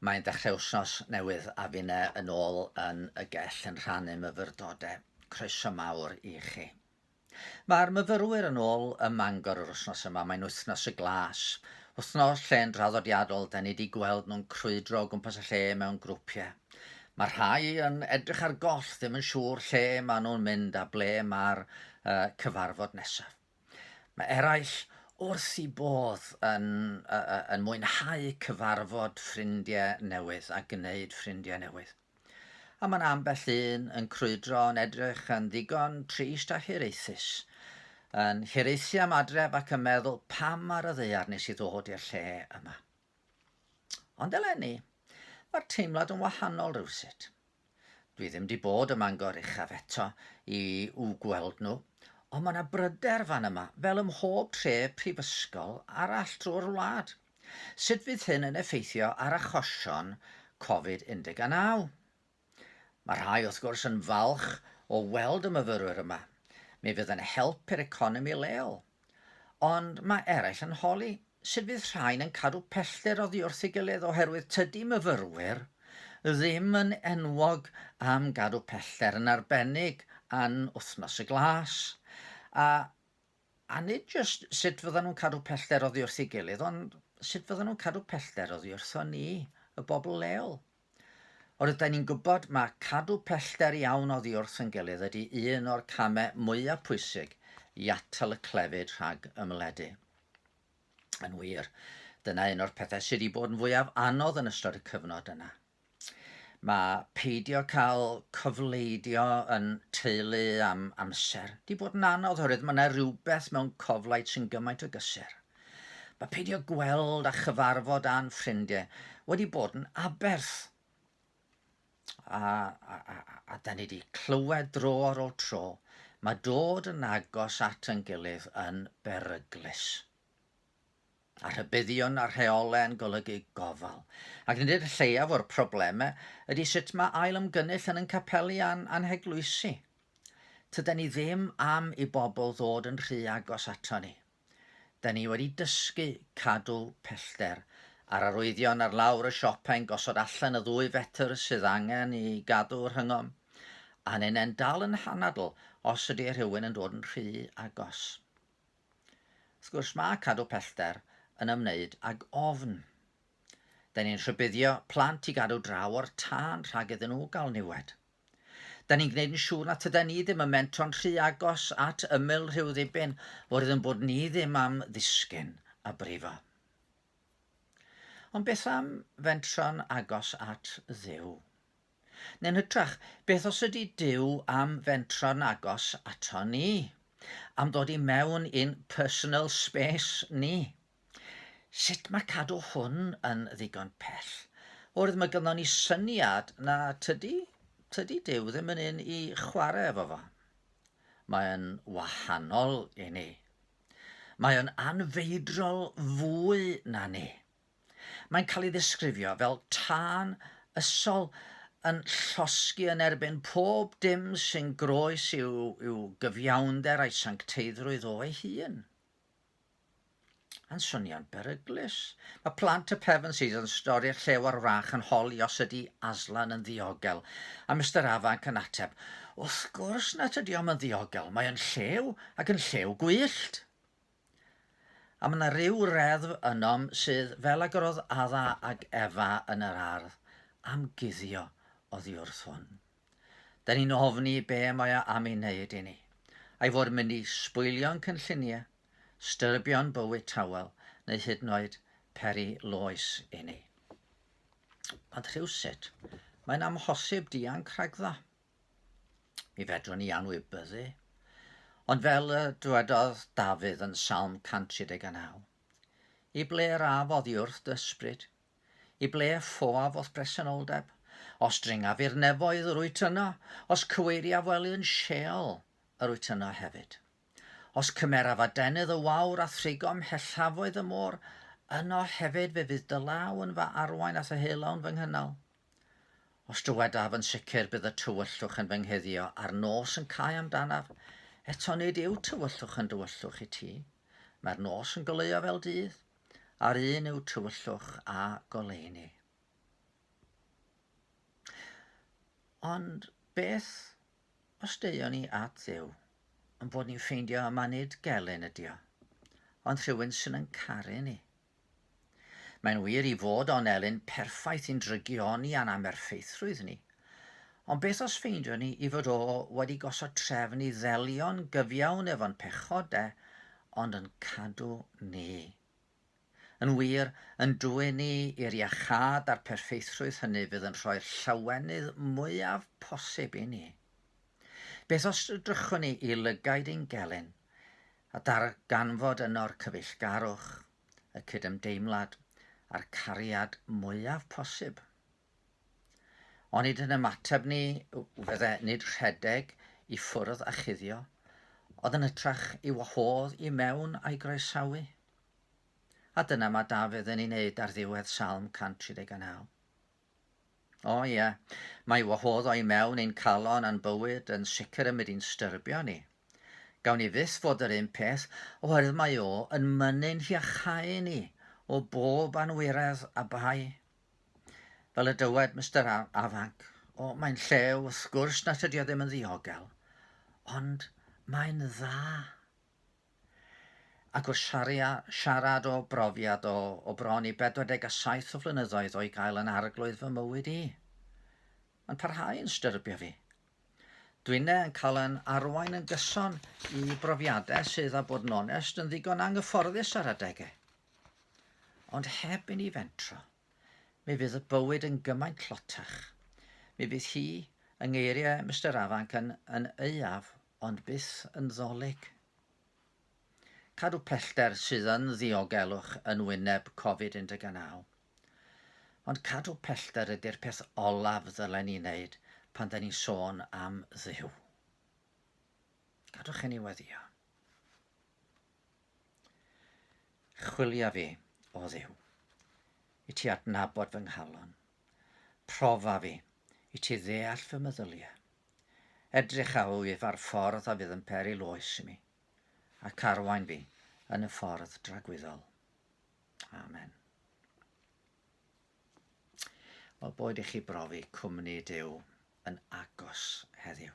Mae'n dechrau wsnos newydd a finne yn ôl yn y gell yn rhannu myfyrdode. Croeso mawr i chi. Mae'r myfyrwyr yn ôl ym Mangor yr wsnos yma, mae'n wythnos y glas. Wythnos lle yn draddodiadol, da ni di gweld nhw'n crwydro o gwmpas y lle mewn grwpiau. Mae rhai yn edrych ar goll, ddim yn siŵr lle maen nhw'n mynd a ble mae'r uh, cyfarfod nesaf. Mae eraill wrth eu bodd yn yn mwynhau cyfarfod ffrindiau newydd a gwneud ffrindiau newydd. A mae 'na ambell un yn crwydro yn edrych yn ddigon trist a hiraethus, yn hiraethu am adref ac yn meddwl 'pam ar y ddaear nes i ddod i'r lle yma? Ond eleni, mae'r teimlad yn wahanol rhywsut. Dwi ddim di bod ym Mangor Uchaf eto i w gweld nhw, ond mae yna bryder fan yma, fel ym mhob tre prifysgol arall drwy'r wlad. Sut fydd hyn yn effeithio ar achosion Covid 19? Mae rhai, wrth gwrs, yn falch o weld y myfyrwyr yma. Mi fydd yn help i'r economi leol. Ond mae eraill yn holi sut fydd rhain yn cadw pellter oddi wrth ei gilydd oherwydd tydi myfyrwyr ddim yn enwog am gadw pellter yn arbennig an Wythnos y Glas. A, a nid jyst sut fyddan nhw'n cadw pellter oddi wrth ei gilydd, ond sut fyddan nhw'n cadw pellter oddi wrthon ni, y bobl leol. Ond rydyn ni'n gwybod mae cadw pellter iawn oddi wrth yn gilydd ydy un o'r camau mwyaf pwysig i atal y clefyd rhag ymledu. Yn wir, dyna un o'r pethau sydd wedi bod yn fwyaf anodd yn ystod y cyfnod yna. Mae peidio cael cofleidio yn teulu am amser wedi bod yn anodd oherwydd mae yna rhywbeth mewn coflaid sy'n gymaint o gysur. Mae peidio gweld a chyfarfod â'n ffrindiau wedi bod yn aberth. A, a, a, a da ni wedi clywed dro ar ôl tro, mae dod yn agos at yn gilydd yn beryglus. A rhybuddion a rheolau yn golygu gofal. Ac nid yw'r lleiaf o'r problemau ydy sut mae ail ymgynnull yn yn capeli a'n anheglwysi. Tyda ni ddim am i bobl ddod yn rhy agos ato ni. Da ni wedi dysgu cadw pellter a'r arwyddion ar lawr y siop ein gosod allan y ddwy fetr sydd angen i gadw rhyngom, a neu nen dal yn hanadl os ydy rhywun yn dod yn rhy agos. Wrth gwrs mae cadw pellter yn ymwneud ag ofn. Da ni'n rhybuddio plant i gadw draw o'r tân rhag iddyn nhw gael niwed. Da ni'n gwneud yn siŵr na tyda ni ddim yn mentro'n rhy agos at ymyl rhyw ddibyn, fwrdd yn bod ni ddim am ddisgyn a brifo. Ond beth am fentro'n agos at ddew? Neu'n hytrach, beth os ydy Dyw am fentro'n agos ato ni? Am ddod i mewn i'n personal space ni? Sut mae cadw hwn yn ddigon pell? Oherwydd mae gynnon ni syniad na tydi, tydi Dyw ddim yn un i chwarae efo fo. Mae'n wahanol i ni. Mae o'n anfeidrol fwy na ni. Mae'n cael ei ddisgrifio fel tân ysol yn llosgi yn erbyn pob dim sy'n groes i'w, i'w gyfiawnder a'i sancteiddrwydd o'i hun. Yn swnio'n beryglus. Mae Plant y Pevensey's Seas yn stori llew ar wrach yn holi os ydy Aslan yn ddiogel, a Mister Afanc yn ateb, Wrth gwrs na tydi o'm yn ddiogel, mae o'n llew, ac yn llew gwyllt! A mae yna ryw reddf ynom sydd fel ag yr oedd Adda ag Efa yn yr ardd, am guddio oddi wrth hwn. Da ni'n ofni be mae o am ei wneud i ni. A'i fod mynd i sbwylio'n cynlluniau, styrbio'n bywyd tawel neu hyd yn oed peri loes i ni. Ond rhywsut, mae'n amhosib dianc rhagddo. Mi fedrwn ni anwybyddu. Ond fel y dwedodd Dafydd yn Salm 139, I ble rafodd i wrth dy ysbryd? I ble ffoaf o'th bresenoldeb? Os dringaf i'r nefoedd yr wyt yno, os cyweiriaf wely yn Sheol yr wyt yno hefyd. Os cymeraf adenydd y wawr a thrigom hellafoedd y môr, yno hefyd fe fydd dy law yn fy arwain a'th helawn fy nghynnal. Os dywedaf yn sicr bydd y tywyllwch yn fy nghuddio a'r nos yn cau amdanaf, eto nid yw tywyllwch yn dywyllwch i ti. Mae'r nos yn goleuo fel dydd. a'r un yw tywyllwch a goleuni. Ond beth os deuon ni at ddew, yn bod ni'n ffeindio yma nid gelyn ydi o, ond rhywun sy'n yn caru ni. Mae'n wir i fod o'n elyn perffaith i'n drygioni a'n amerffeithrwydd ni, Ond beth os ffeindiwn ni i fod o wedi gosod trefn i ddelio'n gyfiawn efo'n pechod de, ond yn cadw ni. Yn wir, yn dwyn ni i'r iachâd a'r perffeithrwydd hynny fydd yn rhoi'r llawenydd mwyaf posib i ni. Beth os drychwn ni i lygaid ein gelyn, a darganfod yno'r cyfeillgarwch, y cydymdeimlad, a'r cariad mwyaf posib? Onid yn ymateb ni fydde nid rhedeg i ffwrdd a chuddio, ond yn hytrach i wahodd i mewn a'i groesawu? A dyna mae Dafydd yn ei wneud ar ddiwedd Salm 139. O ie, mae wahodd o'i mewn ein calon a'n bywyd yn sicr yn mynd i'n styrbio ni. Gawn ni fyth fod yr un peth, oherwydd mae o yn mynnu'n hiachau ni o bob anwiredd a bai. Fel y dywed Mister Afanc, o, mae'n llew, wrth gwrs na tydi o ddim yn ddiogel, ond mae'n dda. Ac wrth siaria, siarad o brofiad o, o bron i 47 o flynyddoedd o'i gael yn arglwydd fy mywyd i, mae'n parhau yn styrbio fi. Dwine yn cael yn arwain yn gyson i brofiadau sydd, a bod yn onest, yn ddigon anghyfforddus ar adegau. Ond heb i ni fentro, mi fydd y bywyd yn gymaint tlotach. Mi fydd hi, yng ngeiriau Mister Afanc, yn, yn aeaf, ond byth yn ddolig. Cadw pellter sydd yn ddiogelwch yn wyneb Covid-19. Ond cadw pellter ydy'r peth olaf ddylen ni wneud pan da ni'n sôn am Dduw. Gadwch i ni weddio. Chwilia fi, o Dduw, i ti adnabod fy nghalon. Profa fi, i ti ddeall fy meddyliau. Edrych a wyf ar ffordd a fydd yn peril oes i mi, ac arwain fi yn y ffordd dragwyddol. Amen. Wel, boed i chi brofi cwmni Dyw yn agos heddiw.